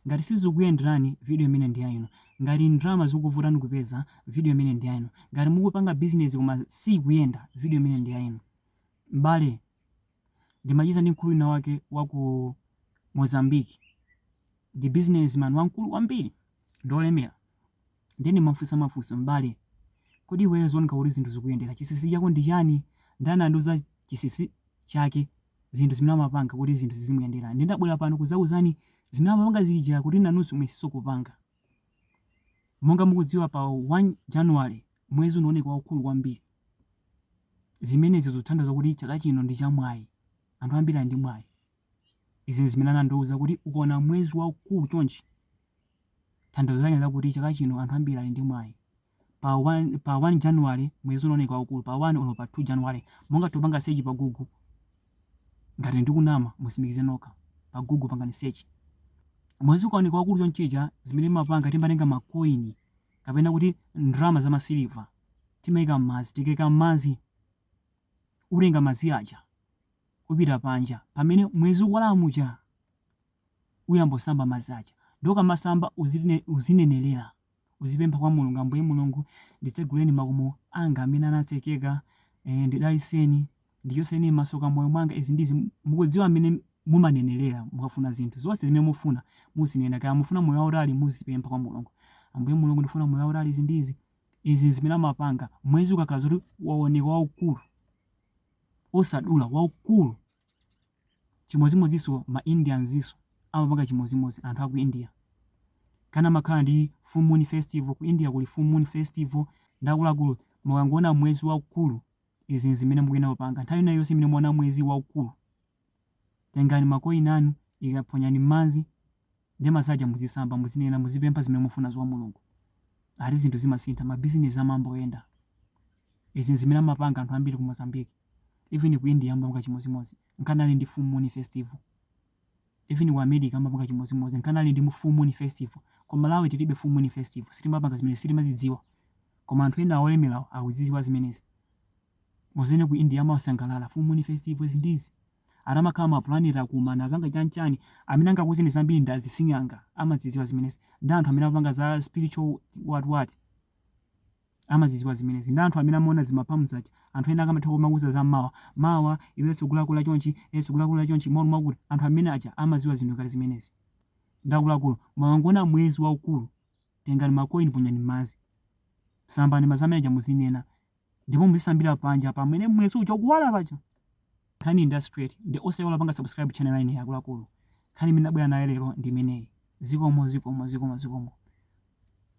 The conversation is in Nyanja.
Ngati sizikukuyenderani, video imene ndi ya inu. Ngati ndalama zikukuvutani kupeza, video imene ndi ya inu. Ngati mukupanga bizinezi koma siikuyenda, video imene ndi ya inu. M'bale, ndimacheza ndi mkulu winawake wa ku Mozambique. Ndi businessman wamkulu kwambiri, ndi wolemera. Ndiye ndimamufunsa mafunso, M'bale, kodi iweyo zikuoneka kuti zinthu zikuyendera, chinsinsi chako ndi chani? Nde anandiuza chinsinsi chake zinthu zimene amapanga kuti zinthu zizimuyendera. Ndiye ndabwera pano kudzakuuzani zimene amapanga zija kuti nanunso muyesenso kupanga. Monga mukudziwa pa 1 January mwezi unaoneka waukulu kwambiri. Zimenezi zikutanthauza kuti chaka chino ndi chamwayi. Anthu ambiri ali ndi mwayi. Izi n'zimene anandiuza kuti ukaona mwezi waukulu chonchi, tanthauzo lake ndi lakuti chaka chino anthu ambiri ali ndi mwayi. pa 1 pa 1 january mwezi unaoneka waukulu pa 1 olo pa 2 january mungathe kupanga search pa google ngati ndikunama mutsimikize nokha pa google pangani search mwezi ukaoneka wakulu chonchija zimene timapanga timatenga makoini kapena kuti ndrama za masiliva timaika mmazi tikaika mmazi utenga mazi aja upita panja pamene mwezi ukwala muja uyamba usamba mazi aja nde ukamasamba uzine, uzinenelera Uzipempha kwa Mulungu, Ambuye Mulungu, nditseguleni makomo anga amene anatsekeka, eh, ndidaliseni, ndichotseni masoka m'moyo mwanga, izi ndizi, mukudziwa mmene mumanenelera, mukafuna zinthu, zonse zimene mufuna, muzinena, kaya mufuna moyo wautali, muzipempha kwa Mulungu, Ambuye Mulungu, ndifuna moyo wautali, izi ndizi, izi zimene amapanga, mwezi ukakhala zoti waoneka waukulu, osadula, waukulu, Chimodzimodzinso ma Indian n'zimenenso amapanga chimodzimodzi anthu aku India. Nkana amakhala ndi full moon festival, ku India kuli full moon festival nde akuluakulu mukangoona mwezi waukulu izi n'zimene mukuyenera kupanga. Nthawi ina iliyonse imene mwaona mwezi waukulu tengani ma coin anu ika, ponyani m'madzi Ndiye madzi aja muzisamba muzinena muzipempha zimene mufunazo kwa Mulungu. Ati zinthu zimasintha ma business amayamba kuyenda. Izi nzimene amapanga anthu ambiri ku Mozambique. Even ku India amapanga chimozimozi. Nkana ali ndi full moon festival. Even ku America amapanga chimozimozi. Nkana ali ndi full moon festival. Ku Malawi tilibe full moon festival. Sitimapanga zimenezi sitimazidziwa. Koma anthu ena olemerawo akuzidziwa zimenezi. Mudzaone ku India amasangalala full moon festivals ndi izi. akamakhala ma planet akumana apanga chani chani amene angakuuzeni zambiri ndi asing'anga amazidziwa zimenezi ndi anthu amene amapanga za spiritual what what amazidziwa zimenezi ndi anthu amene amaona za ma palm zija anthu ena akamatha kumakuuza za mawa mawa iwe sukulakula chonchi iwe sukulakula chonchi malingana ndi kuti anthu amene aja amaziwa zinthu kale zimenezi nde akuluakulu mukangoona mwezi waukulu tengani makoini ponyani m'madzi sambani madzi amene aja muzinena ndipo muzisambira panja pamene mwezi uja ukuwala paja nkhani ndi straight ndiye osaiwala panga subscribe channel ine akuluakulu nkhani imene nabwera nayo lero ndi imeneyi zikomo zikomo zikomo zikomo